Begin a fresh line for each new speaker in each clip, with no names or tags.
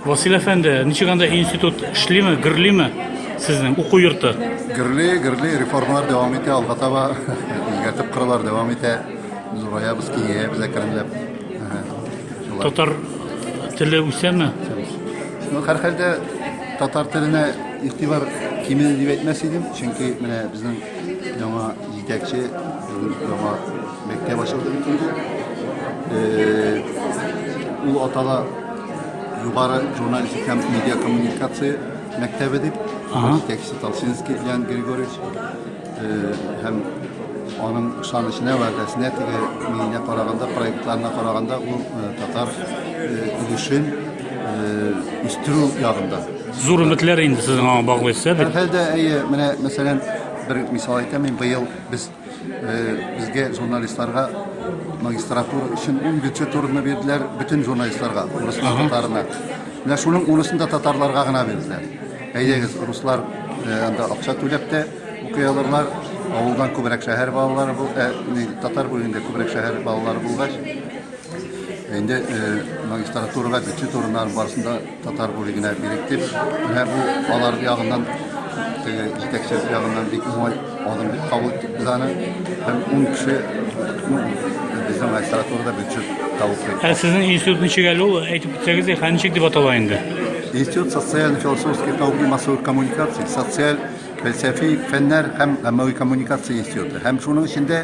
Васил әфәнде, ничек анда институт эшлиме, гөрлиме сезнең уку йорты? Гөрли, гөрли,
реформалар дәвам итә, алга таба үзгәртеп кыралар дәвам итә. Зураябыз, киңәябез әкренләп. Әһә.
Шулай. Татар теле үсәме? Ну,
һәр хәлдә татар теленә игътибар кимеде дип әйтмәс идем, чөнки менә безнең яңа җитәкче, яңа Мәктәп ачылды бит инде. Э, ул атала югары журналистик һәм медиа коммуникация мәктәбе дип. Җитәкчесе Толсинский Ян Григорьевич э, һәм аның ышанычына, вәгъдәсенә, теге миенә караганда, проектларына караганда ул э, татар өлешен үстерү ягында. Зур өметләр
инде сезнең аңа баглыйсыз, ә бит? Хәлдә әйе, менә
мәсәлән, бер мисал әйтәм, мин быел без Безгә журналистларга магистратура өчен 10 бюджет урыны бирделәр, бөтен журналистларга, руслар татарына. Менә шуның урысын да татарларга гына бирделәр. Әйдәгез, руслар анда акча түләп тә укый алырлар. Авылдан күбрәк шәһәр балалары бу, татар бүлегендә күбрәк шәһәр балалары булгач, Инде магистратурага бюджет урыннары барысында татар бүлегенә бирик дип, менә бу алар ягыннан теге җитәкчесе ягыннан бик уңай адым дип кабул иттек без аны. Һәм ун кеше безнең магистратурада бюджет тавыклый. Ә сезнең институт ничек әле ул?
Әйтеп үтсәгез, хәзер ничек дип атала инде? Институт
социально-философских наук и массовых коммуникаций, социаль, фәлсәфи фәннәр һәм әммәви коммуникация институты. Һәм шуның эчендә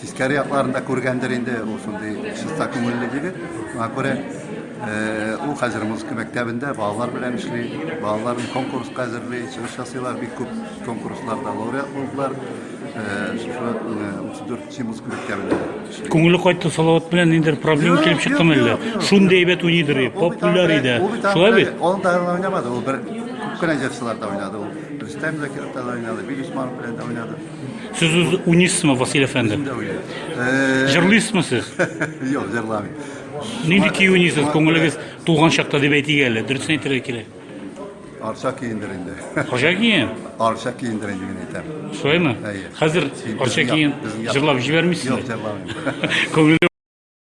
Тискәре якларын да күргәндер инде, ул шундый чиста күңелле егет. Шуңа күрә ул хәзер музыка мәктәбендә балалар белән эшли, балаларын конкурска әзерли, чыгыш ясыйлар, бик күп конкурсларда лауреат булдылар. Шушы 34 музыка мәктәбендә. Күңеле кайтты Салават
белән ниндер проблема килеп чыктымы әллә? Шундый әйбәт уйныйдыр, популяр иде. Шулай бит? Ул да уйнамады, ул
бер күп кенә җырчыларда уйнады ул. Рөстәм Закировта да уйнады, Бил Усманов белән дә уйнады. Сез үз
уйныйсызмы, Василий әфәнде? Э,
Җырлыйсызмы сез?
Юк,
җырламыйм. Нинди көй
уйныйсыз? Күңелегез туган чакта дип әйтик әле. Дөресен әйтергә кирәк. Арча
киендер инде. Арча киен?
Арча киендер инде
мин әйтәм. Шулаймы?
Әйе. Хәзер
Арча
киен
җырлап
җибәрмисезме? Юк, җырламыйм. Күңеле